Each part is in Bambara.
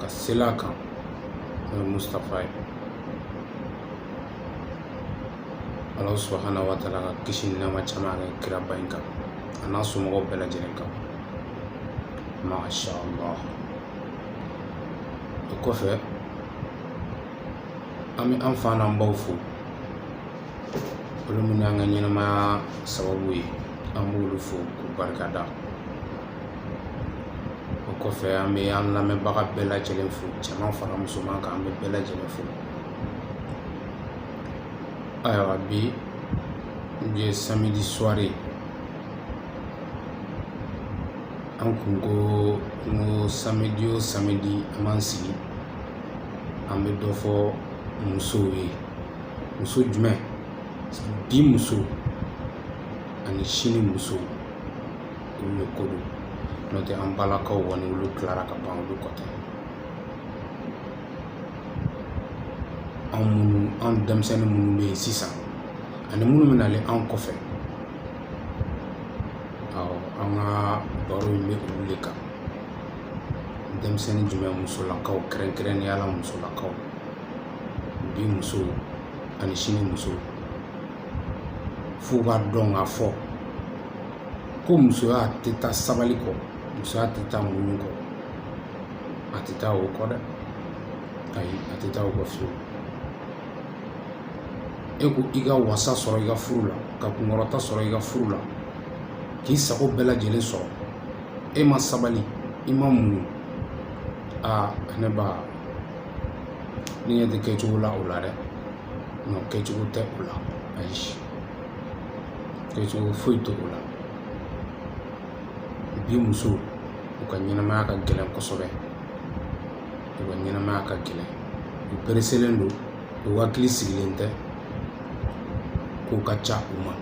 ka sela kan n'o ye mustapha ye ala subahana wa taala ka kisi ni nɛɛma caman kɛ kiraba in kan a n'a somɔgɔw bɛɛ lajɛlen kan masha allah o kɔfɛ an bɛ an fa n'an baw fo olu minnu y'an ka ɲɛnamaya sababu ye an b'olu fo k'u barikada o kɔfɛ an bɛ an lamɛnbaga bɛɛ lajɛlen fo cɛman fara musoman kan an bɛ bɛɛ lajɛlen fo ayiwa bi ye samedi soirée an kun ko n ko samedi o samedi an b'an sigi an bɛ dɔ fɔ musow ye muso jumɛn bi muso ani sini muso olu le ko don n'o tɛ an balakaw kɔni olu tilara ka ban olu ko tɛ an minnu an denmisɛnnin minnu bɛ yen sisan ani minnu bɛ nalen an kɔfɛ awɔ an ka baro in bɛ olu le kan denmisɛnnin jumɛn musolakaw kɛrɛnkɛrɛnnenya la musolakaw bi muso ani sini muso f'u k'a dɔn k'a fɔ ko musoya tɛ taa sabali kɔ musoya tɛ taa muɲu kɔ a tɛ taa o kɔ dɛ ayi a tɛ taa o kɔ fiyewu e ko i ka wasa sɔrɔ i ka furu la ka kunkɔrɔta sɔrɔ i ka furu la k'i sago bɛɛ lajɛlen sɔrɔ e ma sabali i ma muɲu aa ne ba ne ɲɛ tɛ kɛcogo la o la dɛ non kɛcogo tɛ o la ayi kɛcogo foyi tɛ o la bi muso u ka ɲɛnamaya ka gɛlɛn kosɛbɛ u ka ɲɛnamaya ka gɛlɛn u pereselen don u hakili sigilen tɛ ko ka ca u ma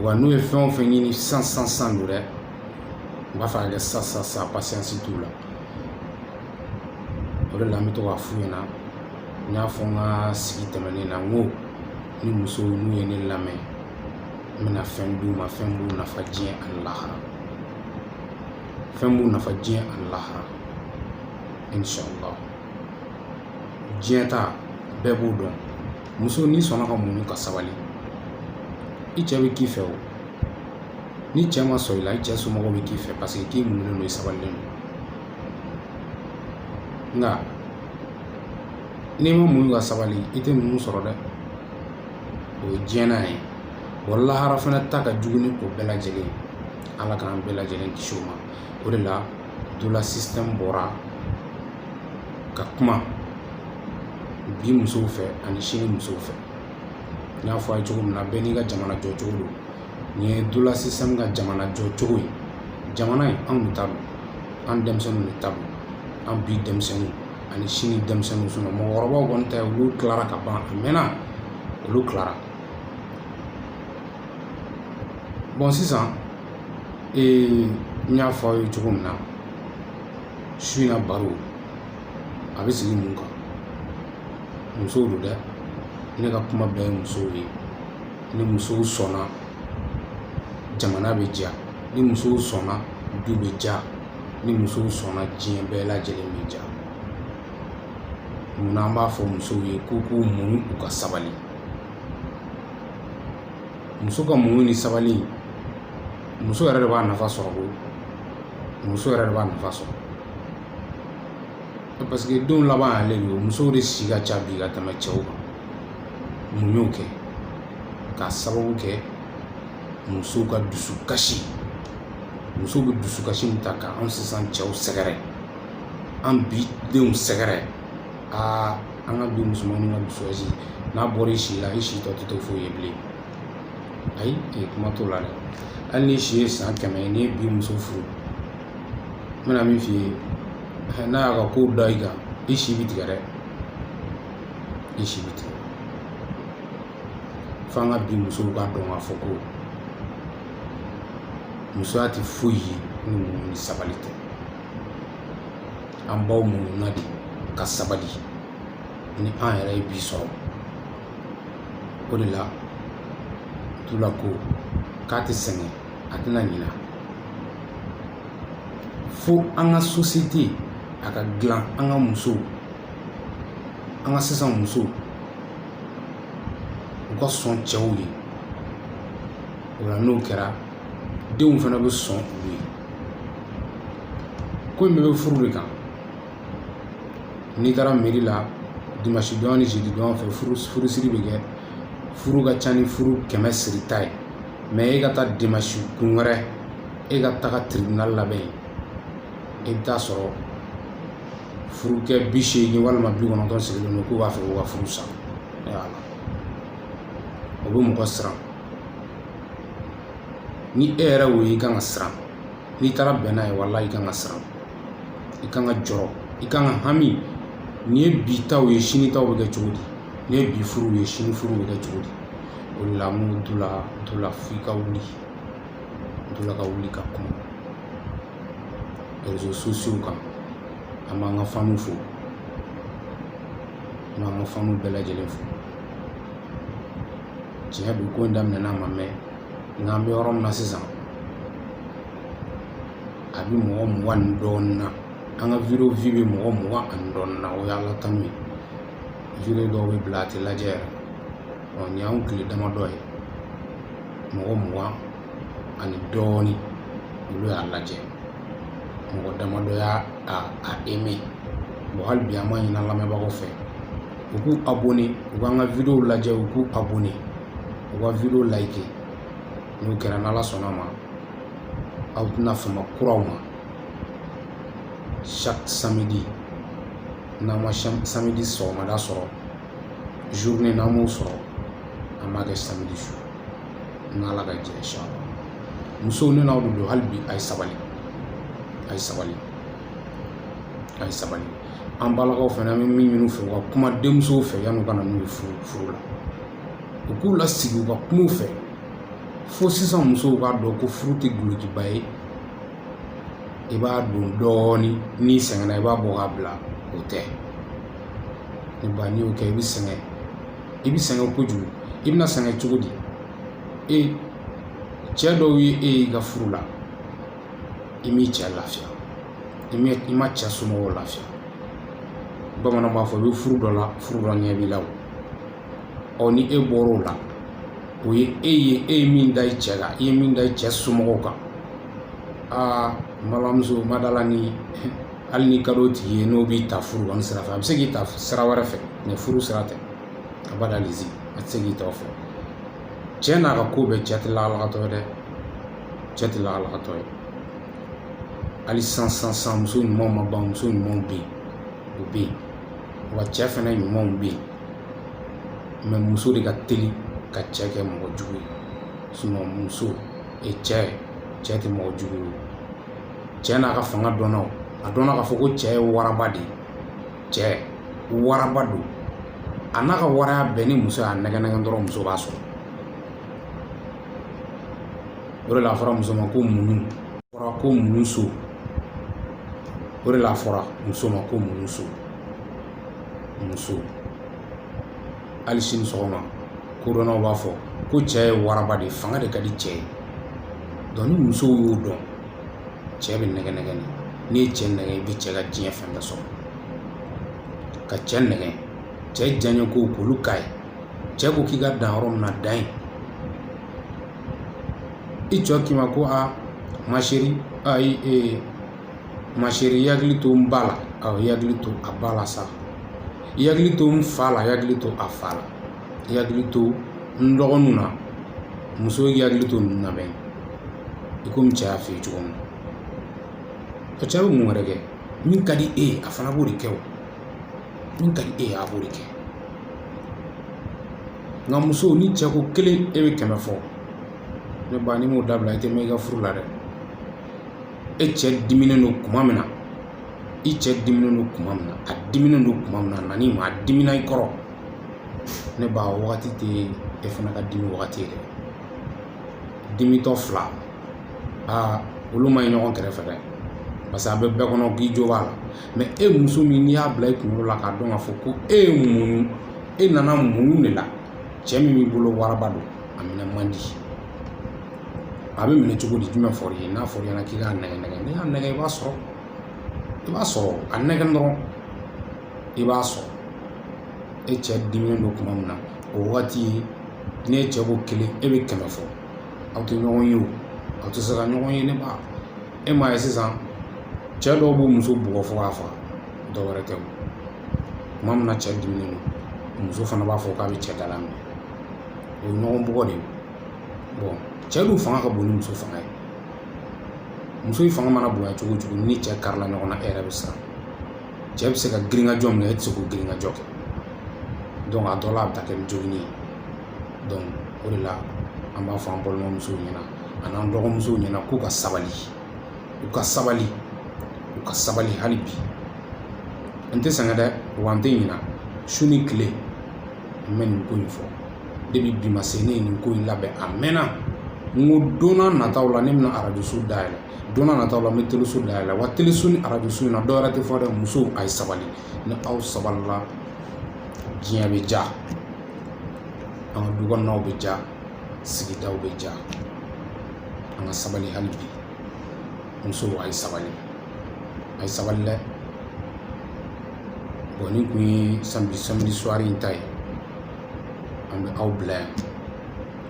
wa n'u ye fɛn o fɛn ɲini sisan sisan sisan don dɛ n b'a fɛ ka kɛ sisan sisan sisan pasiyansi t'u la o de la an bɛ to k'a f'u ɲɛna n y'a fɔ n ka sigi tɛmɛnen na n ko ni musow n'u ye ne lamɛn n bɛna fɛn d'u ma fɛn b'u nafa diɲɛ ani lahara fɛn b'u nafa diɲɛ ani lahara inshallah diɲɛ ta bɛɛ b'o dɔn muso n'i sɔnna ka muɲu ka sabali i cɛ bɛ k'i fɛ o ni cɛ ma sɔn i la i cɛ somɔgɔw bɛ k'i fɛ parce que k'i muɲunen don i sabalilen don nka n'i ma muɲu ka sabali i tɛ ninnu sɔrɔ dɛ o ye diɲɛ na ye wa lahara fana ta ka jugu ni o bɛɛ lajɛlen ye ala k'an bɛɛ lajɛlen kisi o ma o de la dula système bɔra ka kuma bi musow fɛ ani sini musow fɛ n y'a fɔ a ye cogo min na bɛɛ n'i ka jamana jɔcogo don nin ye dula système ka jamana jɔcogo ye jamana in anw de ta don an denmisɛnninw de ta don an bi denmisɛnninw ani sini denmisɛnninw sinon mɔgɔkɔrɔbaw kɔni tɛ olu tilara ka ban a mɛnna olu tilara bon sisan ee n y'a fɔ aw ye cogo min na su in na baro a bɛ sigi mun kan musow don dɛ ne ka kuma bɛɛ ye musow ye ni musow sɔnna jamana bɛ diya ni musow sɔnna du bɛ diya ni musow sɔnna diɲɛ bɛɛ lajɛlen bɛ diya munna an b'a fɔ musow ye k'u k'u muɲu u ka sabali muso ka muɲu ni sabali muso yɛrɛ de b'a nafa sɔrɔ koyi muso yɛrɛ de b'a nafa sɔrɔ parce que denw laban y'ale de ye musow de si ka ca bi ka tɛmɛ cɛw kan mun y'o kɛ k'a sababu kɛ musow ka dusukasi musow bɛ dusukasi min ta ka anw sisan cɛw sɛgɛrɛ an bi denw sɛgɛrɛ aa an ka bi musomanninw ka dusukasi n'a bɔra i si la i si tɔ tɛ to foyi ye bilen ayi ee kuma t'o la dɛ hali n'i si ye san kɛmɛ ye n'i ye bi muso furu n bɛna min f'i ye n'a y'a ka kow da i kan i si bɛ tigɛ dɛ i si bɛ tigɛ f'an ka bi musow k'a dɔn k'a fɔ ko musoya tɛ foyi ye ni muɲu ni sabali tɛ an baw muɲuna de ka sabali ni an yɛrɛ ye bi sɔrɔ o de la dula ko k'a tɛ sɛgɛn a tɛna ɲina fo an ka sosiyete a ka dilan an ka musow an ka sisan musow u ka sɔn cɛw ye o la n'o kɛra denw fana bɛ sɔn u ye ko in bɛɛ bɛ furu de kan n'i taara meri la dimansi don ni zidi don fɛ furusiri bɛ kɛ furu ka ca ni furu kɛmɛ sirita ye mais e ka taa dimansi kun wɛrɛ e ka taga tribunal labɛn yen i bɛ t'a sɔrɔ furukɛ bi seegin walima bi kɔnɔntɔn sigilen don k'u b'a fɛ k'u ka furu sa o bɛ mɔgɔ siran ni e yɛrɛ wo ye i kan ka siran n'i taara bɛn n'a ye walahi i kan ka siran i kan ka jɔrɔ i kan ka hami nin ye bi taw ye sini taw bɛ kɛ cogo di nin ye bi furuw ye sini furuw bɛ kɛ cogo di o de la n ko dula dula f'i ka wuli dula ka wuli ka kuma réseaux sociaux kan an b'an ka faniw fo an b'an ka faniw bɛɛ lajɛlen fo tiɲɛ don ko in daminɛna a ma mɛn nka an bɛ yɔrɔ min na sisan a bɛ mɔgɔ mugan ni dɔɔnin na an ka video vue bɛ mɔgɔ mugan ani dɔɔnin na o y'ala tanu ye video dɔw bɛ bila a tɛ lajɛ yɛrɛ ɔ nin y'anw tile damadɔ ye mɔgɔ mugan ani dɔɔnin olu y'a lajɛ mɔgɔ damadɔ y'a a a aimé bon hali bi an b'a ɲini an lamɛnbagaw fɛ u k'u abonné u k'an ka videow lajɛ u k'u abonné u ka video like n'o kɛra n'ala sɔnn'a ma aw tɛna fama kuraw ma chaque samedi n'an ma samedi sɔgɔmada sɔrɔ journée n'an m'o sɔrɔ an b'a kɛ samedi su n'ala ka jɛ inchallah musow ne n'aw de don hali bi a ye sabali a ye sabali a ye sabali an balakaw fana an bɛ min ɲini u fɛ u ka kuma denmusow fɛ yan'u ka na n'u ye furu la u k'u lasigi u ka kuma u fɛ fo sisan musow k'a dɔn ko furu tɛ dulokiba ye i b'a don dɔɔnin n'i sɛgɛnna i b'a bɔ k'a bila o tɛ ne ba n'i y'o kɛ i bɛ sɛgɛn i bɛ sɛgɛn kojugu i bɛna sɛgɛn cogo di e cɛ dɔw ye e y'i ka furu la i m'i cɛ lafiya i ma cɛ somɔgɔw lafiya bamananw b'a fɔ i bɛ furu dɔ la furu dɔ ɲɛ b'i la o ɔ ni e bɔr'o la o ye e ye e ye min da i cɛ kan i ye min da i cɛ somɔgɔw kan aa n balimamuso ma d'a la ni hali n'i ka d'o tigi ye n'o b'i ta furu kɔni sira fɛ a bɛ se k'i ta sira wɛrɛ fɛ mais furu sira tɛ abada lizi a tɛ se k'i tɔgɔ fɔ cɛ n'a ka ko bɛɛ cɛ tɛ lakalakatɔ ye dɛ cɛ tɛ lakalakatɔ ye hali san san san muso ɲumanw ma ban muso ɲumanw bɛ yen o bɛ yen wa cɛ fana ɲumanw bɛ yen mais muso de ka teli ka cɛ kɛ mɔgɔ jugu ye sinon muso e cɛ cɛ tɛ mɔgɔ jugu ye cɛ n'a ka fanga dɔnna a dɔnna k'a fɔ ko cɛ ye waraba de ye cɛ waraba don a n'a ka waraya bɛɛ ni muso y'a nɛgɛ nɛgɛ dɔrɔn muso b'a sɔrɔ o de la a fɔra muso ma ko muɲu fɔra ko muɲu so o de la a fɔra muso ma ko muɲu so muso hali sini sɔgɔma kodɔnnaw b'a fɔ ko cɛ ye waraba de ye fanga de ka di cɛ ye donc ni musow y'o dɔn cɛ bɛ nɛgɛ nɛgɛ de n'i ye cɛ nɛgɛ i bɛ cɛ ka diɲɛ fɛn bɛɛ sɔrɔ ka cɛ nɛgɛ cɛ diyaɲɛ kow k'olu k'a ye cɛ ko k'i ka dan yɔrɔ min na dan yen i cɛ k'i ma ko a ma chérie ayi ee ma chérie i hakili to n ba la awɔ i hakili to a ba la sa i hakili to n fa la i hakili to a fa la i hakili to n dɔgɔninw na muso y'i hakili to ninnu na bɛn i komi cɛ y'a f'i ye cogo min na o cɛ bɛ mun wɛrɛ kɛ min ka di e ye a fana b'o de kɛ o min ka di e ye a b'o de kɛ nka muso ni cɛ ko kelen e bɛ kɛmɛ fɔ ne ba n'i m'o dabila i tɛ mɛn i ka furu la dɛ e cɛ diminen don kuma min na i cɛ diminen don kuma min na a diminen don kuma min na nani ma a dimina i kɔrɔ ne ba o wagati tɛ e fana ka dimi wagati ye dɛ dimitɔ fila aa olu man ɲi ɲɔgɔn kɛrɛfɛ dɛ parce que a bɛ bɛɛ kɔnɔ k'i jo b'a la mais e muso min n'i y'a bila i kunkolo la k'a dɔn k'a fɔ ko e ye muɲu e nana muɲu de la cɛ min b'i bolo waraba don a minɛ man di a bɛ minɛ cogo di jumɛn fɔra i ye n'a fɔra i ɲɛna k'i k'a nɛgɛ nɛgɛ n'i y'a nɛgɛ i b'a sɔrɔ i b'a sɔrɔ a nɛgɛ dɔrɔn i b'a sɔrɔ e cɛ diminen don kuma min na o wagati ye n'e cɛ ko kelen e bɛ kɛmɛ fɔ aw tɛ ɲɔgɔn ye o aw tɛ se ka ɲɔgɔn ye ne ba e m'a ye sisan cɛ dɔw b'u muso bugɔ fo k'a faga dɔ wɛrɛ tɛ o kuma min na cɛ diminen don muso fana b'a fɔ k'a bɛ cɛ dalaminɛ o ye ɲɔgɔn bugɔ de ye bon cɛ dun fanga ka bon ni muso fanga ye muso in fanga mana bonya cogo cogo ni cɛ karila ɲɔgɔn na e yɛrɛ bɛ siran cɛ bɛ se ka girinkajɔ min kɛ e tɛ se k'o girinkajɔ kɛ donc a dɔ la a bɛ taa kɛ ni jogini ye donc o de la an b'a fɔ an balimamusow ɲɛna ani an dɔgɔmusow ɲɛna k'u ka sabali u ka sabali u ka sabali hali bi n tɛ sɛgɛn dɛ wa n tɛ ɲina su ni tile n bɛ nin ko in fɔ depuis bi ma se ne ye nin ko in labɛn a mɛnna n ko don nataw la ne bɛna arajoso dayɛlɛ don na nataw la n bɛ teleso da yɛlɛ wa teleso ni arajoso in na dɔ wɛrɛ tɛ fɔ dɛ musow a ye sabali ni aw sabalila diɲɛ bɛ ja an ka du kɔnɔnaw bɛ ja sigidaw bɛ ja an ka sabali hali bi musow a ye sabali a ye sabali dɛ bon nin kun ye samedi samedi soirée in ta ye an bɛ aw bila yan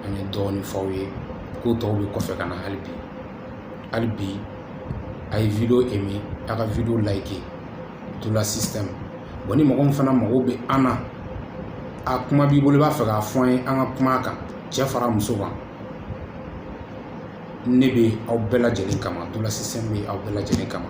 an ye dɔɔnin f'aw ye ko tɔw bɛ kɔfɛ ka na hali bi hali bi a ye video aimer a ka video like dola système bon ni mɔgɔ min fana mago bɛ an na a kuma b'i bolo i b'a fɛ k'a fɔ an ye an ka kuma a kan cɛ fara muso kan ne bɛ aw bɛɛ lajɛlen kama dola système bɛ aw bɛɛ lajɛlen kama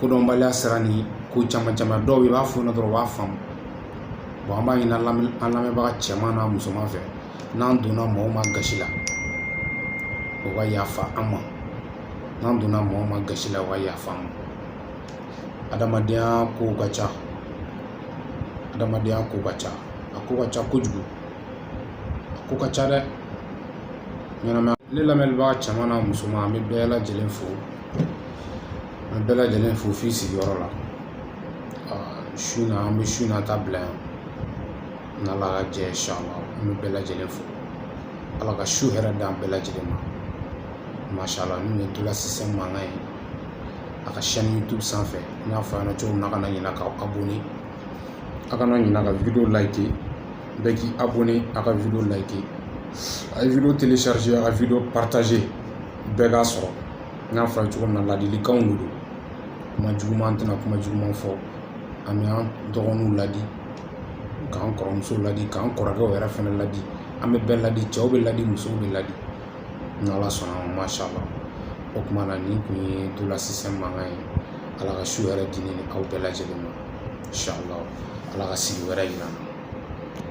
kodɔnbaliya sira ni ko caman caman dɔw bɛ i b'a fɔ ɲɛna dɔrɔn u b'a faamu bon an b'a ɲini an lamɛnbaga cɛman n'a musoman fɛ n'an donna mɔgɔ o mɔgɔ gasi la o ka yafa an ma n'an donna mɔgɔ o mɔgɔ gasi la o ka yafa an ma adamadenya kow ka ca adamadenya kow ka ca a ko ka ca kojugu a ko ka ca dɛ ɲɛnamaya ne lamɛnbaga cɛman n'a musoman an bɛ bɛɛ lajɛlen fo an bɛɛ lajɛlen fo f'i sigiyɔrɔ la su na an bɛ su na ta bila yan n'ala ka jɛn insha allah an bɛ bɛɛ lajɛlen fo ala ka su hɛrɛ d'an bɛɛ lajɛlen ma masha allah nin ye dola système mankan ye a ka chaîne youtube sanfɛ n y'a fɔ a ɲɛna cogo min na a kana ɲina k'aw abonné a kana ɲina ka video like bɛɛ k'i abonné a ka video like a ye video télécharger a ka video partager bɛɛ k'a sɔrɔ n y'a fɔ a ye cogo min na ladilikanw de don kuma juguman an tɛna kuma juguman fɔ an bɛ an dɔgɔninw ladi k'an kɔrɔmusow ladi k'an kɔrɔkɛw yɛrɛ fana ladi an bɛ bɛɛ ladi cɛw bɛ ladi musow bɛ ladi ni ala sɔnna ma masha allah o tuma na nin kun ye dola système mankan ye ala ka su hɛrɛ di ne ni aw bɛɛ lajɛlen ma insha allah ala ka sigi wɛrɛ yira an na